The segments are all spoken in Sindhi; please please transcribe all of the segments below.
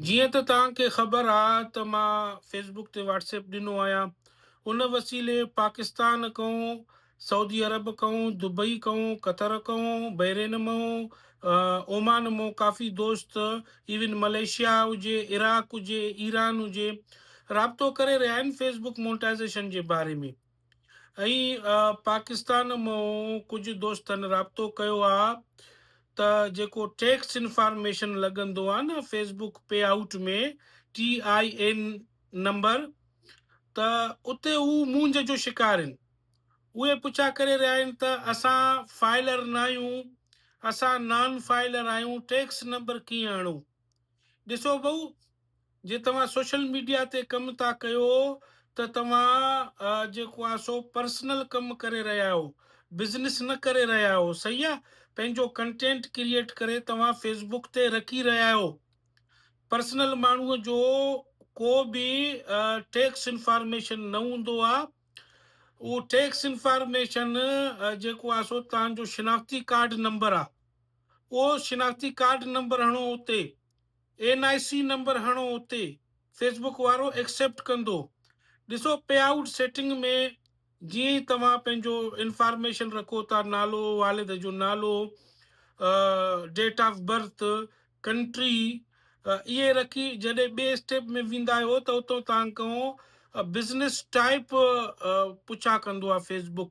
جيئن ته توهان کي خبر آ ته مان فيس بڪ تي واٽس ايپ ڏنو آهيان ان وسيلي پاڪستان ڪئون سعودي عرب ڪئون دبئي ڪئون قطر ڪئون بحرين مئون اومان مئون ڪافي دوست ايون ملائيشيا هجي عراق هجي ايران هجي رابطو ڪري رهيا آهن فيس بڪ مونٽائزيشن جي باري ۾ ائين پاڪستان مون ڪجهه دوستن رابطو ڪيو آ ته جيڪو ٽيڪس انفارميشن لڳندو آ نه Facebook payout ۾ T I N number ته اتي هو مونجهه جو شڪار هين اهي پڇا ڪري رهيا هين ته اسان فائلر ناهيون اسان نان فائلر آهيون ٽيڪس نمبر ڪيئن اڻون. ڏسو ڀئو جي توهان سوشل ميڊيا تي ڪم ٿا ڪيو ته توهان جيڪو آ سو پرسنل ڪم ڪري رهيا آهيو بزنس نه ڪري رهيا آهيو صحيح آ پنهنجو ڪنٽينٽ ڪريئيٽ ڪري توهان فيسبوڪ تي رکي رهيا آهيو پرسنل ماڻهو جو ڪو به ٽيڪس انفارميشن نه هوندو آ اهو ٽيڪس انفارميشن جيڪو آ سو توهان جو شناختي ڪارڊ نمبر آ پوء شناختي ڪارڊ نمبر هڻو اتي، اين آء سي نمبر هڻو اتي، فيس بڪ وارو ايڪسيپٽ ڪندو. ڏسو پي آئوٽ سيٽنگ ۾ جيئن ئي توهان پنهنجو انفارميشن رکو ٿا نالو، والد جو نالو، ڊيٽ آف برٿ، ڪنٽري اهي رکي جڏهن ٻئي اسٽيپ ۾ ويندا آهيو ته اتان توهان کان بزنس ٽائپ پڇا ڪندو آهي فيس بڪ.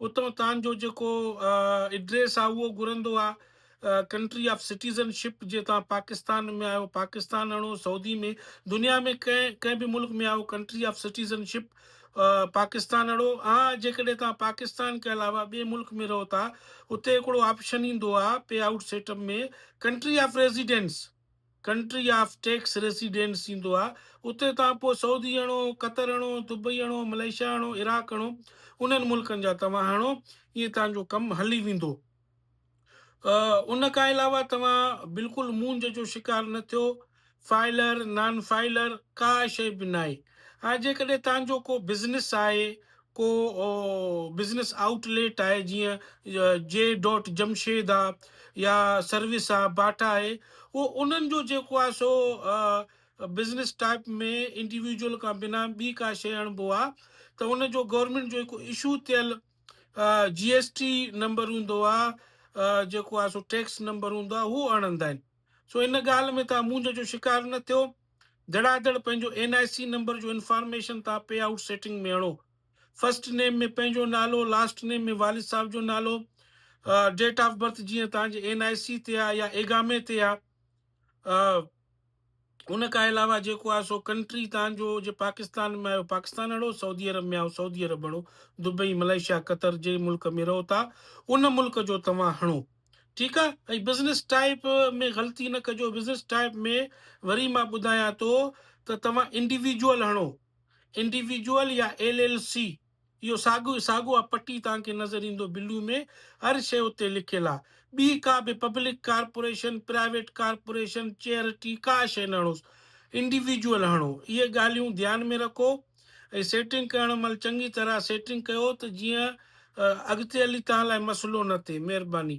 اتان تان جو جيڪو ايڊريس آ اهو گهرندو آ ڪنٽري آف سٽيزن شپ جي تان پاڪستان ۾ آهيو پاڪستان اڻو سعودي ۾ دنيا ۾ ڪنهن ڪنهن به ملڪ ۾ آهيو country of citizenship Pakistan اڻو آ جيڪڏهن تان پاڪستان کي علاوه ٻي ملڪ ۾ رهو ٿا اتي هڪڙو آپشن ايندو آ payout سيٽم ۾ country of residence country of tax residents ٿيندو آهي اتي توهان پوء سعودي هڻو، قطر هڻو، دبئي هڻو، ملائيشيا هڻو، عراق هڻو انهن ملڪن جا توهان هڻو ائين توهان جو ڪم هلي ويندو. ان کان علاوه توهان بلڪل مونجهه جو شڪار نه ٿيو فائلر، نان فائلر ڪا شيء به ناهي ها جيڪڏهن توهان جو ڪو بزنس آهي ڪو بزنس آئوٽ ليٽ آهي جيئن جي ڊوٽ جمشيد آ يا سروس آ باٽا آهي اهو انهن جو جيڪو آ سو بزنس ٽائپ ۾ انڊيويجول کان بنا ٻي ڪا شيء اڻبو آ ته ان جو گورنمينٽ جو هڪ اشو ٿيل جي ايس ٽي نمبر هوندو آ جيڪو آ سو ٽيڪس نمبر هوندو آ هو اڻندا آهن سو ان ڳالهه ۾ تهان مونجهه جو شڪار نه ٿيو. ڌڙاڌڙ پنهنجو اين آء سي نمبر جو انفارميشن تان پي آئوٽ سيٽنگ ۾ هڻو. فرسٽ نيم ۾ پنهنجو نالو، لاسٽ نيم ۾ والد صاحب جو نالو، ڊيٽ آف برٿ جيئن توهان جي اين آء سي تي آهي يا ايگامي تي آهي. ان کان علاوه جيڪو آهي سو ڪنٽري توهان جو جي پاڪستان ۾ آهيو پاڪستان هڻو، سعودي عرب ۾ آهيو سعودي عرب هڻو، دبئي، ملائيشيا، قطر جنهن ملڪ ۾ رهو ٿا ان ملڪ جو توهان هڻو. ٺيڪ آ ۽ بزنس ٽائپ ۾ غلطي نه ڪجو بزنس ٽائپ ۾ وري مان ٻڌايان ٿو ته توهان انڊيويجوئل هڻو انڊيويجوئل يا ايل ايل سي اهو ساڳو ساڳو آ پٽي توهان کي نظر ايندو بلو ۾ هر شيء اتي لکيل آ ٻي ڪا به public corporation private corporation charity ڪا شيء نه هڻوس انڊيويجوئل هڻو اهي ڳالهيون ڌيان ۾ رکو ۽ سيٽنگ ڪرڻ مھل چڱي طرح سيٽنگ ڪيو ته جيئن اڳتي ھلي توھان لاء مسئلو نه ٿئي مھرباني.